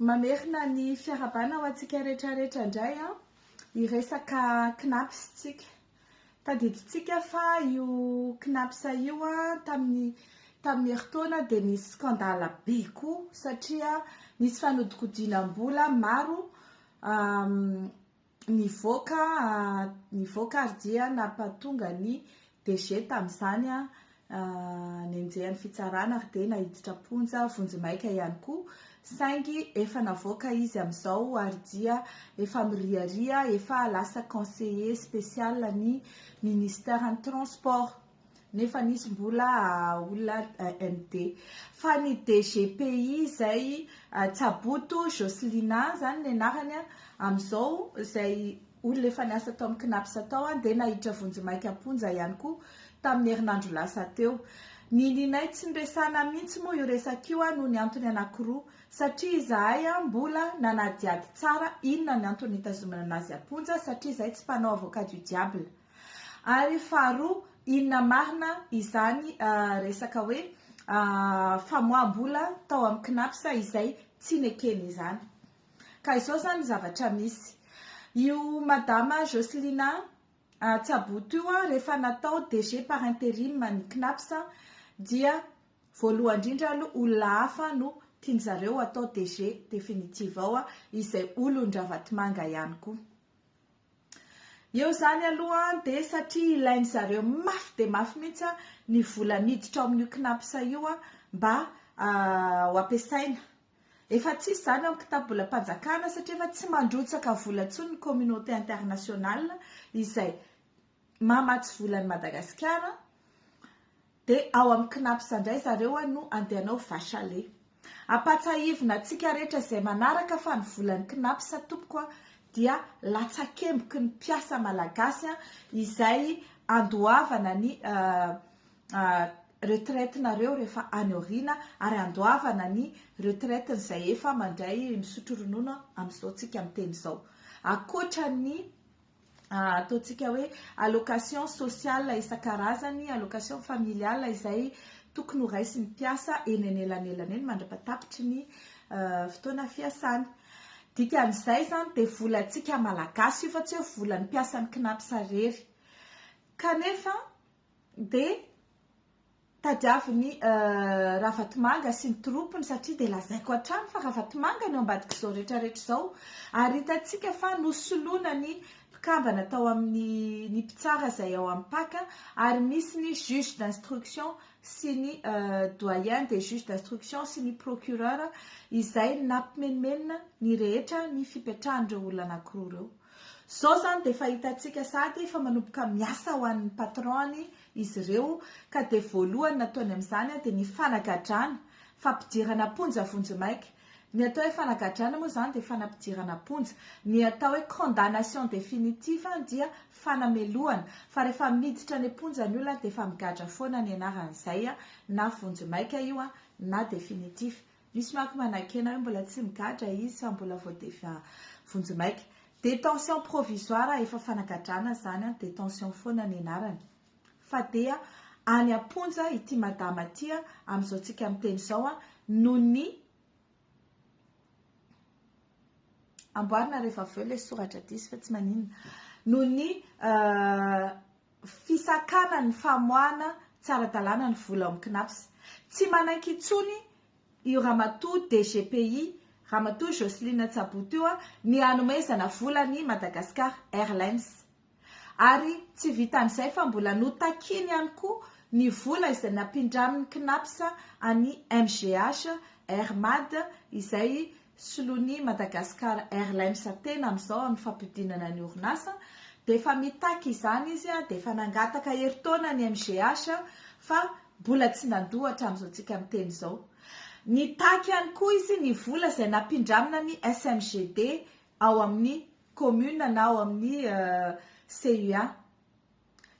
Mamerina ny fiarahabana ho antsika rehetrarehetra indray an, hiresaka Cnaps isika. Tadidintsika fa io Cnaps io an tamin'ny tamin'ny herintaona dia nisy scandale be koa satria nisy fanodikodinam-bola maro Nivoaka nivoaka ary dia nampatonga ny DG tamin'izany nenjehan'ny fitsarana ary dia naiditra am-ponja vonjimaika ihany koa, saingy efa navoaka izy amin'izao ary dia efa miriaria, efa lasa conseiller spécial ny Ministeran'ny Transport. nefa nisy mbola olona AND. Fa ny DGPI izay Tsaboto Jocelina izany ny anarany amin'izao izay olona efa niasa tao amin'ny Cnaps tao dia nahiditra vonjimaika am-ponja ihany koa tamin'ny herinandro lasa teo. Ny ninay tsy noresahina mihitsy moa io resaka io noho ny antony anankiroa, satria izahay mbola nanadihady tsara inona ny antony nitazonana azy am-ponja satria izahay tsy mpanao avocat du diable. Ary faharoa, inona marina izany resaka hoe famoaham-bola tao amin'ny Cnaps izay tsy nekeny izany? Ka izao izany ny zavatra misy, io Madama Jocelina Tsaboto io rehefa natao DG par interim ny Cnaps dia voalohany indrindra aloha olona hafa no tiany zareo atao DG définitive ao izay olon-dRavatomanga ihany koa. Eo izany aloha dia satria ilain-dry zareo mafy dia mafy mihitsy ny vola miditra ao amin'io Cnaps io mba ho ampiasaina. Efa tsisy izany ao amin'ny kitabolam-panjakana satria efa tsy mandrotsaka vola intsony ny communauté internationale izay mamatsy vola an'i Madagasikara dia ao amin'ny Cnaps indray zareo no andeha hanao vache à lait. Ampatsahivina antsika rehetra izay manaraka fa ny volan'ny Cnaps tompoko dia latsakemboky ny mpiasa malagasy izay andoavana ny retraite-nareo rehefa any aoriana ary andoavana ny retraite-n'izay efa mandray misotro ronono amin'izao tsika miteny izao. Ankoatra ny ataontsika hoe allocation sociale isan-karazany, allocation familiale izay tokony ho raisin'ny mpiasa eny anelanelany eny mandra-patapitry ny fotoana fiasany. Dikan'izay izany dia volantsika malagasy io fa tsy hoe volan'ny mpiasan'ny CNAPS irery. Kanefa dia... Tadiavin'i Ravatomanga sy ny troupiny satria dia lazaiko hatrany fa Ravatomanga no ambadik'izao rehetra rehetra izao ary hitantsika fa nosoloina ny mpikambana tao amin'ny ny mpitsara izay ao amin'ny pac ary misy ny juge d'instruction sy ny doyen des juges d'instruction sy ny procureur izay nampimenomenona ny rehetra ny fipetrahan'ireo olona anankiroa ireo. Zao zany de efa hitantsika sady efa manomboka miasa ho an'ny patron-ny izy ireo ka de voalohany nataony amin'izany de ny fanagadrana, fampidirana am-ponja vonjimaika. Ny atao hoe fanagadrana moa izany dia fanampidirana am-ponja. Ny atao hoe condamnation définitive dia fanamelohana fa rehefa miditra any am-ponja ny olona dia efa migadra foana ny anaran'izay na vonjimaika io na définitive. Misy manko manakena hoe mbola tsy migadra izy fa mbola vao defa vonjy maika. Détention provisoire efa fanagadrana zany an, détention foana ny anarany. Fa dia any am-ponja ity madama ity amin'izao tsika miteny izao an, noho ny amboarina rehefa avy eo ilay soratra diso fa tsy maninona, noho ny. fisakana ny famoahana tsy ara-dalàna ny vola ao amin'ny Cnaps. Tsy manaiky intsony io ramatoa DGPI, Ramatoa Jocelyne Tsaboto io, ny hanomezana vola ny Madagascar Airlines. Ary tsy vitan'izay fa mbola notakiny ihany koa ny vola izay nampindramin'ny Cnaps an'i MGH, Air Mad, izay solon'ny Madagascar Airlines tena amin'izao amin'ny fampidinana ny orinasa dia efa mitaky izany izy dia efa nangataka herintaona ny MGH fa mbola tsy nandoa hatramin'izao tsika miteny izao. Nitaky ihany koa izy ny vola izay nampindramina ny SMGD ao amin'ny commune na ao amin'ny CUA.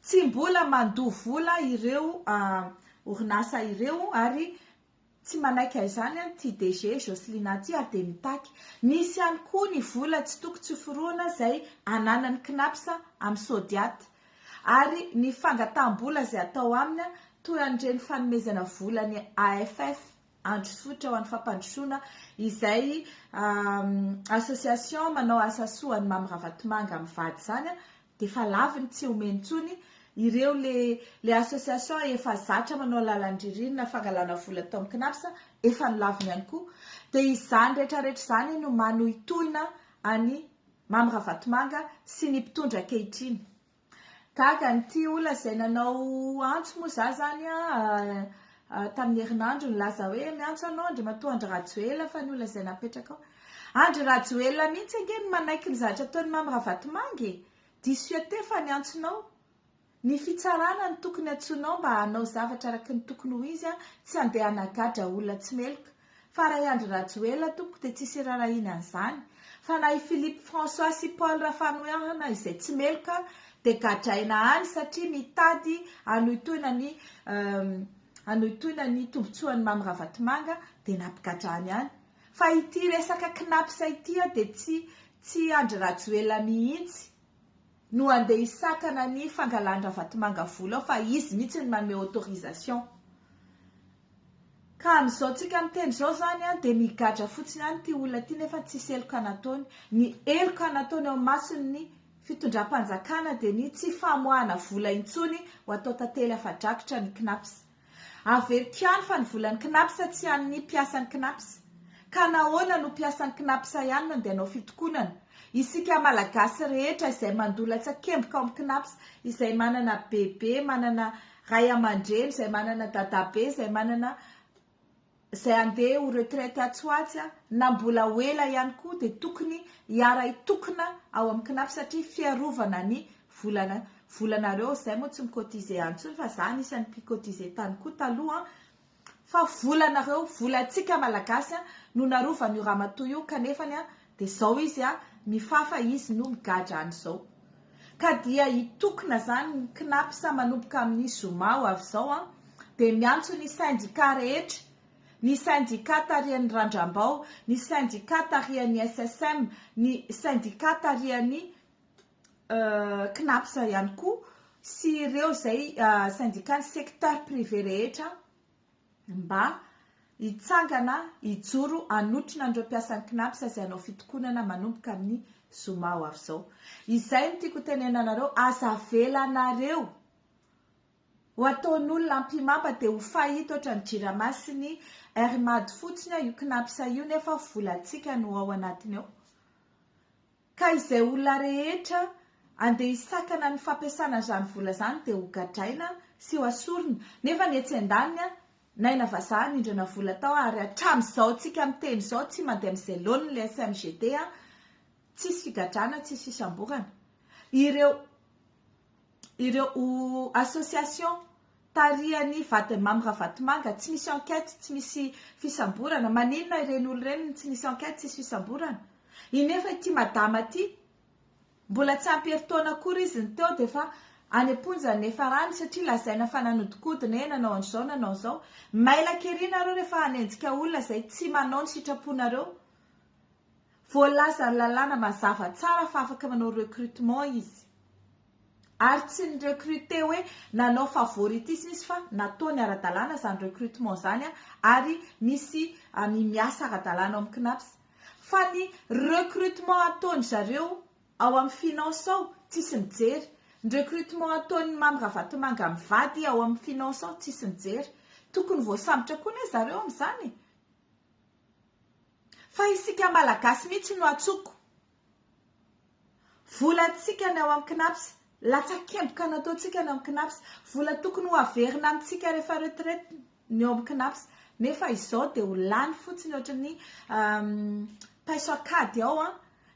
Tsy mbola mandoa vola ireo orinasa ireo ary Tsy manaiky aizany an ty DG Jocelina ty ary dia mitaky. Nisy ihany koa ny vola tsy toko tsy forohana zay ananan'ny Cnaps amin'ny Sodiat. Ary ny fangataham-bola zay atao aminy an, toy an'ireny fanomezana vola ny AFF, Androsotra ho an'ny Fampandrosoana, izay association manao asa soa an'i Mamy Ravatomanga mivady zany an, dia efa laviny tsy omeny intsony ireo le le association efa zatra manao lalan-dririnina fangalana vola tao amin'ny Cnaps efa nolaviny ihany koa dia izany rehetra rehetra izany no manohitohina an'i Mamy Ravatomanga sy ny mpitondra ankehitriny gaga an'ity olona izay nanao antso moa za zany an Tamin'ny herinandrony laza hoe miantso anao Andriamatoa Andry Rajoelina fa ny olona izay napetraka ao. Andry Rajoelina mihitsy ange no manaiky ny zavatra ataon'i Mamy Ravatomanga e! Diso eo teo fa niantsonao. Ny fitsarana no tokony antsoinao mba hanao zavatra araky ny tokony ho izy an, tsy handeha hanagadra olona tsy meloka. Fa raha i Andry Rajoelina tompoko dia tsisy irarahiana an'izany, fa na i Philippe François sy Paul Rafanohana izay tsy meloka dia gadraina any satria mitady hanohitohina ny hanohitohina ny tombotsoan'i Mamy Ravatomanga dia nampigadrany ihany. Fa ity resaka Cnaps ity dia tsy tsy Andry Rajoelina mihitsy. no handeha hisakana ny fangalan-dRavatomanga vola ao fa izy mihitsy no manome autorisation. Ka amin'izao tsika miteny izao izany an, dia migadra fotsiny ihany ity olona ity nefa tsisy heloka nataony. Ny heloka nataony eo imason'ny fitondram-panjakana dia ny tsy famoahana vola intsony ho atao tantely afa-drakitra ny Cnaps. Averiko ihany fa ny volan'ny Cnaps tsy an'ny mpiasan'ny Cnaps. Ka nahoana no mpiasan'ny Cnaps ihany no andeha hanao fitokonana? Isika Malagasy rehetra izay mandola tsakemboka ao amin'ny Cnaps, izay manana bebe, manana ray aman-dreny, izay manana dadabe, izay manana. izay handeha ho retraite atsy ho atsy na mbola ho ela ihany koa dia tokony hiara-hitokona ao amin'ny CNAF satria fiarovana ny volana volanareo, izay moa tsy mi-cotiser any intsony fa za anisan'ny mpi-cotiser tany koa taloha an, fa volanareo, volantsika malagasy no narovan'io ramatoa io kanefany Dia zao izy a, mifafa izy no migadra any zao. Ka dia hitokona zany ny Cnaps manomboka amin'ny zoma ho avy zao an, dia miantso ny syndicat rehetra, ny syndicat tarihan'i Randram-bao, ny syndicat tarihan'ny SSM, ny syndicat tarihan'ny Cnaps ihany koa sy ireo izay syndicat ny secteur privé rehetra an. mba hitsangana hijoro hanotrona an'ireo mpiasan'ny Cnaps izay hanao fitokonana manomboka amin'ny zoma ho avy izao. Izay no tiako hotenenana anareo, aza avelanareo ho ataon'olona ampimamba dia ho fahita ohatra ny Jirama sy ny Air Mad fotsiny io Cnaps io nefa volantsika no ao anatiny ao. Ka izay olona rehetra andeha hisakana ny fampiasana an'izany vola izany dia ho gadraina sy hoasorina. Nefa ny etsy an-daniny, n'aina vazaha nindrana vola tao ary hatramin'izao tsika miteny izao tsy mandeha amin'izay laoniny ilay FMGT, tsisy figadrana, tsisy fisamborana. Ireo. ireo association tarihan'i Vadimamy Ravatomanga tsy misy enquête, tsy misy fisamborana, maninona ireny olona ireny no tsy misy enquête, tsisy fisamborana? Iny efa ity madama ity mbola tsy ampy herintaona akory izy ny teo dia efa any am-ponja ny efa rany satria lazaina fa nanodikodina e, nanao an'izao, nanao izao. Mailaka ery nareo rehefa hanenjika olona izay tsy manao ny sitraponareo. Voalaza lalàna mazava tsara fa afaka manao recrutement izy. Ary tsy ni-recruter hoe nanao favoritisme izy fa nataony ara-dalàna izany recrutement izany ary misy ny miasa ara-dalàna ao amin'ny Cnaps. Fa ny recrutement ataon-dry zareo ao amin'ny finance ao tsisy mijery. Ny recrutement ataon'i Mamy Ravatomanga mivady ao amin'ny finance ao tsisy mijery. Tokony voasambotra koa anie zareo amin'izany e! Fa isika malagasy mihitsy no atsoko. Vola antsika ny ao amin'ny Cnaps, latsakemboka nataontsika ny ao amin'ny Cnaps, vola tokony ho averina amintsika rehefa retraite ny ao amin'ny Cnaps, nefa izao dia ho lany fotsiny ohatry ny paiso an-kady ao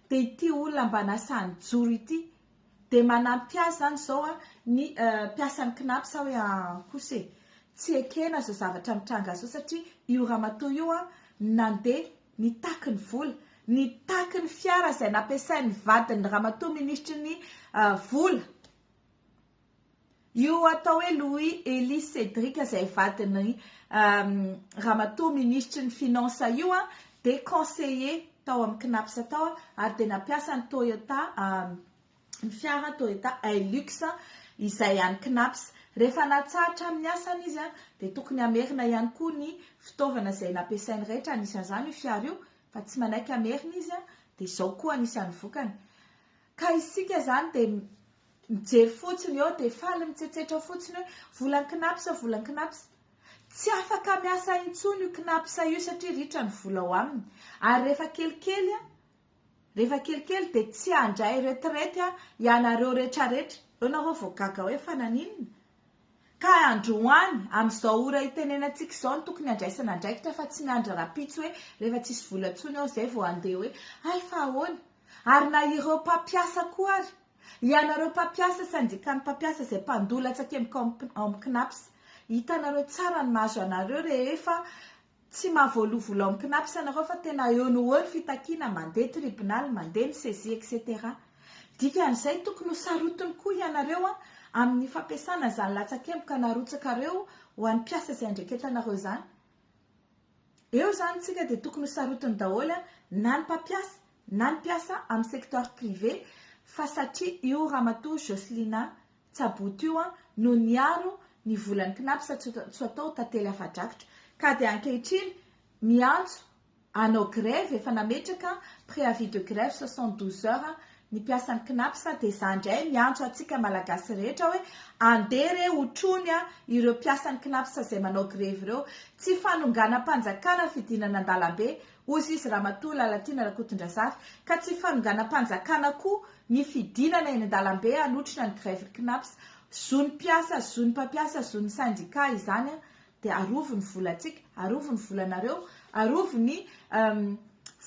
dia ity olona mba nasaha nijoro ity Dia manampy azy izany izao ny mpiasan'ny Cnaps sa hoe an kosa e? Tsy ekena izao zavatra mitranga izao satria io ramatoa io nandeha nitaky ny vola, nitaky ny fiara izay nampiasain'ny vadin'ny ramatoa minisitry ny vola. Io atao hoe Louis Elie Cédric izay vadin'i Ramatoa Minisitry ny Finances io dia conseiller tao amin'ny Cnaps tao ary dia nampiasa ny Toyota ny fiara Toyota Hilux izay an'ny Cnaps. Rehefa natsahatra amin'ny asany izy dia tokony hamerina ihany koa ny fitaovana izay nampiasainy rehetra anisan'izany io fiara io fa tsy manaiky hamerina izy dia izao koa anisan'ny vokany ka isika izany dia Mijery fotsiny eo dia faly mitsetsetra fotsiny hoe vola ny Cnaps, vola ny Cnaps. Tsy afaka miasa intsony io Cnaps io satria ritra ny vola ao aminy. Ary rehefa kelikely, rehefa kelikely dia tsy handray retraite ianareo retraretra. Eo nareo vao gaga hoe fa naninona? Ka androany, amin'izao ora itenenantsika izao no tokony handraisana andraikitra fa tsy miandry rahampitso hoe rehefa tsisy vola intsony ao izay vao handeha hoe hay fa ahoana? Ary na ireo mpampiasa koa ary. Ianareo mpampiasa syndicat-n'ny mpampiasa izay mpandoa latsaka eo Cnaps, hitanareo tsara ny mahazo anareo rehefa tsy mahavoalohavola ao Cnaps ianareo fa tena eo no eo ny fitakiana, mandeha tribunal, mandeha ny saisie etc. Dikan'izay tokony ho sarotiny koa ianareo amin'ny fampiasana an'izany latsakemboka narotsakareo ho an'ny mpiasa izay andreketanareo izany. Eo izany tsika dia tokony ho sarotiny daholo na ny mpampiasa na ny mpiasa amin'ny secteur privé fa satria io ramatoa Jocelina Tsaboto io no niaro ny volan'ny Cnaps tsy atao tantely afa-drakitra ka dia ankehitriny miantso hanao grève efa nametraka préavis de grève soixante douze heures ny mpiasan'ny Cnaps dia izaho indray miantso antsika malagasy rehetra hoe andeha re hotrony ireo mpiasan'ny Cnaps izay manao grevy ireo tsy fanonganam-panjakana fidinana an-dalambe Hoy izy, Ramatoa Lalatiana Rakotondrazafy, ka tsy fanonganam-panjakana koa ny fidinana eny an-dalambe hanotrona ny grève Cnaps. Zon'ny mpiasa, zon'ny mpampiasa, zon'ny sendika izany an! Dia arovy ny volantsika, arovy ny volanareo, arovy ny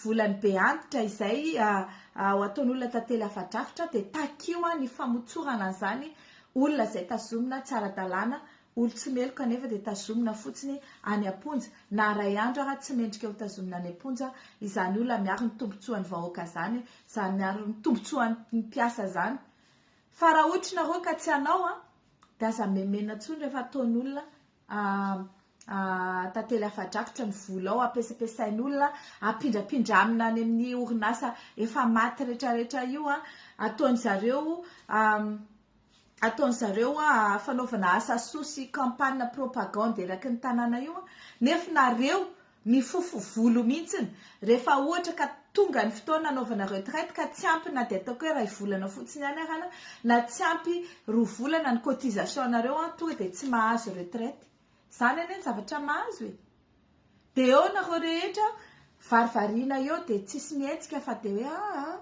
volan'ny be antitra izay ataon'olona tantely afa-drafitra, dia takio ny famotsorana an'izany olona izay tazomina tsy ara-dalàna Olo tsy meloka nefa dia tazomina fotsiny any amponja, na ray andro ara tsy mendrika ho tazomina any amponja izany olona miaro ny tombotsoany vahoaka zany, zany miaro ny tombotsoany mpiasa zany, fa raha ohatry nareo ka tsy anao an dia aza memena tsony refa ataony olona tantely afadrakotra ny volao apesapesainy olona apindrapindra amina any amin'ny orinasa efa maty retraretra io an, ataony zareo ataony zareo fanaovana asa soa sy campagne propagande eraky ny tanàna io nefa nareo mifofo volo mihitsiny rehefa ohatra ka tonga ny fotoana anaovana retraite ka tsy ampy na dia ataoko hoe iray volana fotsiny ihany arana na tsy ampy roa volana ny cotisation anareo an tonga dia tsy mahazo retraite izany anie ny zavatra mahazo e dia eo nareo rehetra varivarina eo dia tsisy mihetsika fa dia hoe aa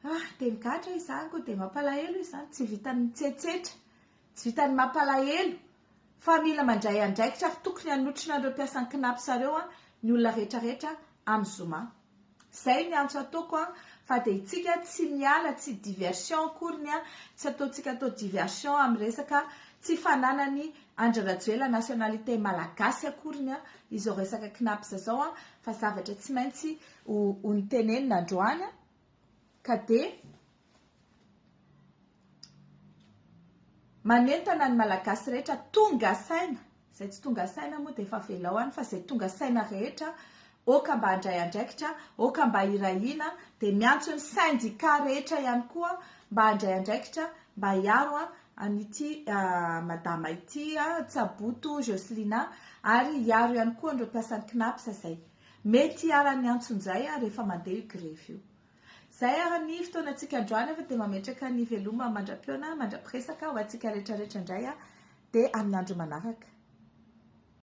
Ah! Teny gadra izany koa dia mampalahelo izany, tsy vitan'ny mitsetsetra, tsy vitan'ny mampalahelo fa mila mandray andraikitra ary tokony hanotrona an'ireo mpiasan'ny Cnaps ireo ny olona rehetra rehetra amin'ny zoma. Izay ny antso ataoko fa dia itsika tsy miala, tsy diversion akory ny tsy ataontsika atao diversion amin'ny resaka tsy fananan'i Andry Rajoela nationalité malagasy akory ny izao resaka Cnaps izao fa zavatra tsy maintsy ho ho notenenina androany. ka dia manentana ny Malagasy rehetra tonga saina, izay tsy tonga saina moa dia efa avelao any, fa izay tonga saina rehetra aoka mba handray andraikitra, aoka mba hirahina, dia miantso ny sendika rehetra ihany koa mba handray andraikitra mba hiaro an'ity madama ity, Tsaboto Jocelina, ary hiaro ihany koa an'ireo mpiasan'ny CNAPS izay. Mety hiharan'ny antsonjay ary efa mandeha io grevy io. Izay ary ny fotoanantsika androany fa dia mametraka ny veloma mandra-pihaona mandra-piresaka ho antsika rehetra rehetra indray aho dia amin'ny andro manaraka.